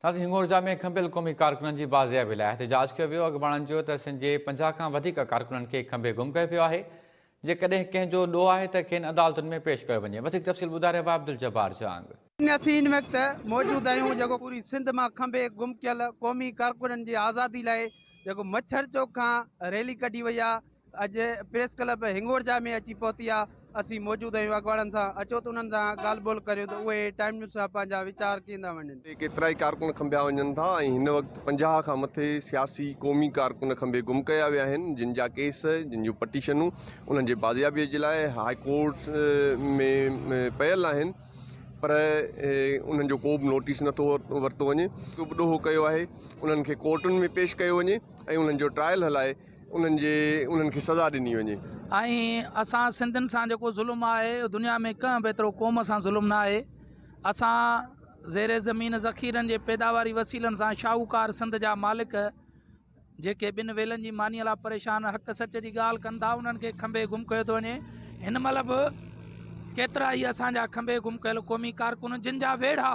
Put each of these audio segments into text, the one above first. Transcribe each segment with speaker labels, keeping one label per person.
Speaker 1: تازي هنڱورجا ۾ کنڀيل قومي ڪارڪنن جي بازيابي لاء احتجاج ڪيو ويو، اڳواڻن چيو ته سن جي پنجاهه کان وڌيڪ ڪارڪنن کي کنڀي گم ڪيو ويو آهي، جيڪڏهن ڪنهن جو ڏوهه آهي ته کين عدالتن ۾ پيش ڪيو وڃي، وڌيڪ تفصيل ٻڌائي رهيو آهي عبدالجبار جهانگ. اسين هن وقت
Speaker 2: موجود آهيون جيڪو پوري سنڌ مان کنڀي گم ڪيل قومي ڪارڪنن جي آزادي لاء جيڪو مڇر چوڪ کان ريلي ڪڍي وئي آهي، اڄ پريس ڪلب هنگورجا ۾ اچي پهتي آهي اسين موجود آهيون اڳواڻن سان اچو ته انهن سان ڳالهه ٻولهه ڪريون ته اهي ٽائيم نيوز سان پنهنجا ويچار ڪيندا وڃن. هتي ڪيترائي ڪارڪن کنڀيا
Speaker 3: وڃن ٿا ۽ هن وقت پنجاهه کان مٿي سياسي قومي ڪارڪن کنڀي گم ڪيا ويا آهن جن جا ڪيس جن جون پٽيشنون انهن جي بازيابي جي لاء هاء ڪورٽ ۾ پيل آهن پر انهن جو ڪو به نوٽيس نٿو ورتو وڃي ڏوهه ڪيو آهي انهن کي ڪورٽن ۾ پيش ڪيو وڃي ۽ انهن جو ٽرائل هلائي انهن جي انهن کي سزا ڏني وڃي. ۽ اسان
Speaker 4: سنڌين سان جيڪو ظلم آهي اهو دنيا ۾ ڪنهن به ايترو قوم سان ظلم نه آهي اسان زير زمين ذخيرن جي پيداواري وسيلن سان شاهوڪار سنڌ جا مالڪ جيڪي ٻن ويلن جي مانيء لاء پريشان حق سچ جي ڳالهه ڪن ٿا انهن کي کنڀي گم ڪيو ٿو وڃي هن مهل به ڪيترا ئي اسان جا کنڀي گم ڪيل قومي ڪارڪن جن جا ويڙها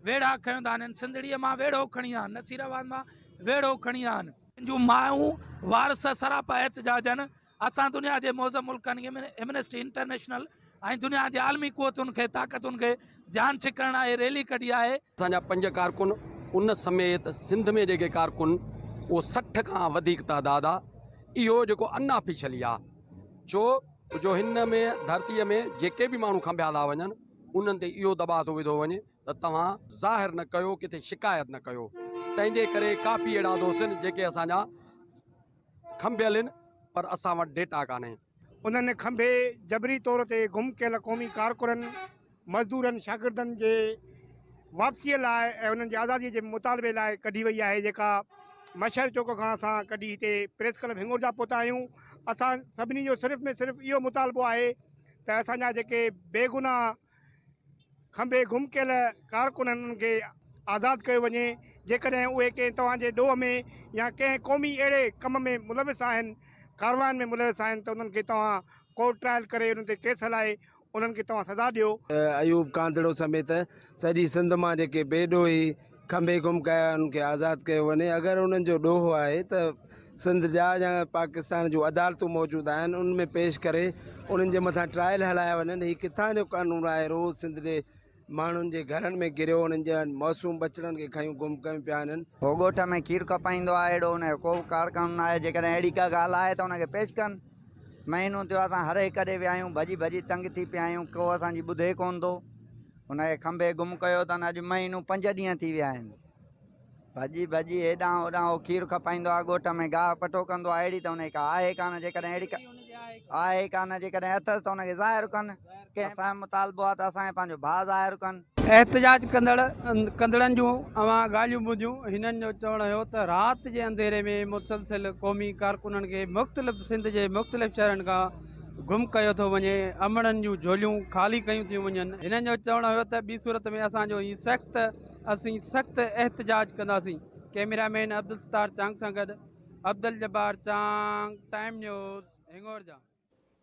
Speaker 4: ويڙها کنيو ٿا آنهن. سنڌڙيء مان ويڙهو کڻي آن. نصير آباد مان ويڙهو کڻي آن. تنهنجون مايون وارث سراپا احتجاجن اسان دنيا جي معظم ملڪن ايمنسٽي انٽرنيشنل ۽ دنيا جي عالمي قوتن کي طاقتن کي ڌيان ڇڪڻ لاء هي ريلي ڪڍي آهي. اسان جا پنج ڪارڪن
Speaker 5: ان سميت سنڌ ۾ جيڪي ڪارڪن اهو سٺ کان وڌيڪ تعداد آ اهو جيڪو ان آفيشلي آ ڇو جو هن ۾ ڌرتي ۾ جيڪي به ماڻهو کنڀيا ٿا وڃن. انهن تي اهو دٻاء ٿو وڌو وڃي ته توهان ظاهر نه ڪيو ڪٿي شڪايت نه ڪيو تنهن جي ڪري ڪافي اهڙا دوست آهن جيڪي اسان جا کنڀيل آهن پر اسان وٽ ڊيٽا ڪانهي. انهن کنڀي
Speaker 6: جبري طور تي گم ڪيل قومي ڪارڪنن، مزدورن، شاگردن جي واپسيء لاء ۽ انهن جي آزاديء جي مطالبي لاء ڪڍي وئي آهي جيڪا مشهر چوڪ کان اسان ڪڍي هتي پريس ڪلب هنڱور جا پهتا آهيون. اسان سڀني جو صرف ۾ صرف اهو مطالبو آهي ته اسان جا جيڪي بيگناهه کنڀي گم ڪيل ڪارڪن آهن انهن کي آزاد ڪيو وڃي جيڪڏهن اهي ڪنهن توهان جي ڏوهه ۾ يا ڪنهن قومي اهڙي ڪم ۾ ملوث آهن ڪاررواين ۾ ملوث آهن ته انهن کي توهان ڪورٽ ٽرائل ڪري انهن تي ڪيس هلائي انهن کي توهان سزا ڏيو. ايوب ڪانڌڙو
Speaker 7: سميت سڄي سنڌ مان جيڪي بي ڏوهي. کنڀي گم ڪيا انهن کي آزاد ڪيو وڃي اگر انهن جو ڏوهه آهي ته سنڌ جا يا پاڪستان جون عدالتون موجود آهن ان ۾ پيش ڪري انهن جي مٿان ٽرائل هلايا وڃن هي ڪٿان جو قانون آهي روز سنڌ جي ماڻهن جي گهرن ۾ گريو انهن جي معصوم ٻچڙن کي کنيون گم ڪيون پيا انهن هو ڳوٺ ۾ کير
Speaker 8: کپائيندو آهي اهڙو ان جو ڪو به ڪار قانون ناهي جيڪڏهن اهڙي ڪا ڳالهه آهي ته ان کي پيش ڪن مهينو ٿيو اسان هر هڪ ڏي ويا آهيون ڀڄي ڀڄي تنگ ٿي پيا آهيون ڪو اسان جي ٻڌي ڪون ٿو. هن کي کنڀي گم ڪيو اٿن اڄ مهينو پنج ڏينهن ٿي ويا آهن ڀڄي ڀڄي هيڏانهن هوڏانهن هو کير کپائيندو آهي ڳوٺ ۾ گاهه پٽو ڪندو آهي اهڙي ته هن کي آهي ڪانه جيڪڏهن اهڙي آهي ڪانه جيڪڏهن اٿس ته ان کي ظاهر ڪن ڪنهن اسان مطالبو آهي ته اسان کي پنهنجو ڀاء ظاهر ڪن. احتجاج ڪندڙ
Speaker 2: ڪندڙن جون اوهان ڳالهيون ٻڌيون هنن جو چوڻ هيو ته رات جي انڌيري ۾ مسلسل قومي ڪارڪنن کي مختلف سنڌ جي مختلف شهرن کان گم ڪيو ٿو وڃي، امڙن جون جهوليون خالي ڪيون ٿيون وڃن. هنن جو چوڻ هيو ته ٻي صورت ۾ اسان جو هي سخت اسين سخت احتجاج ڪنداسين. ڪئميرا مين عبدالستار چانگ سان گڏ عبدالجبار چانگ، ٽائيم نيوز، هنڱورجا.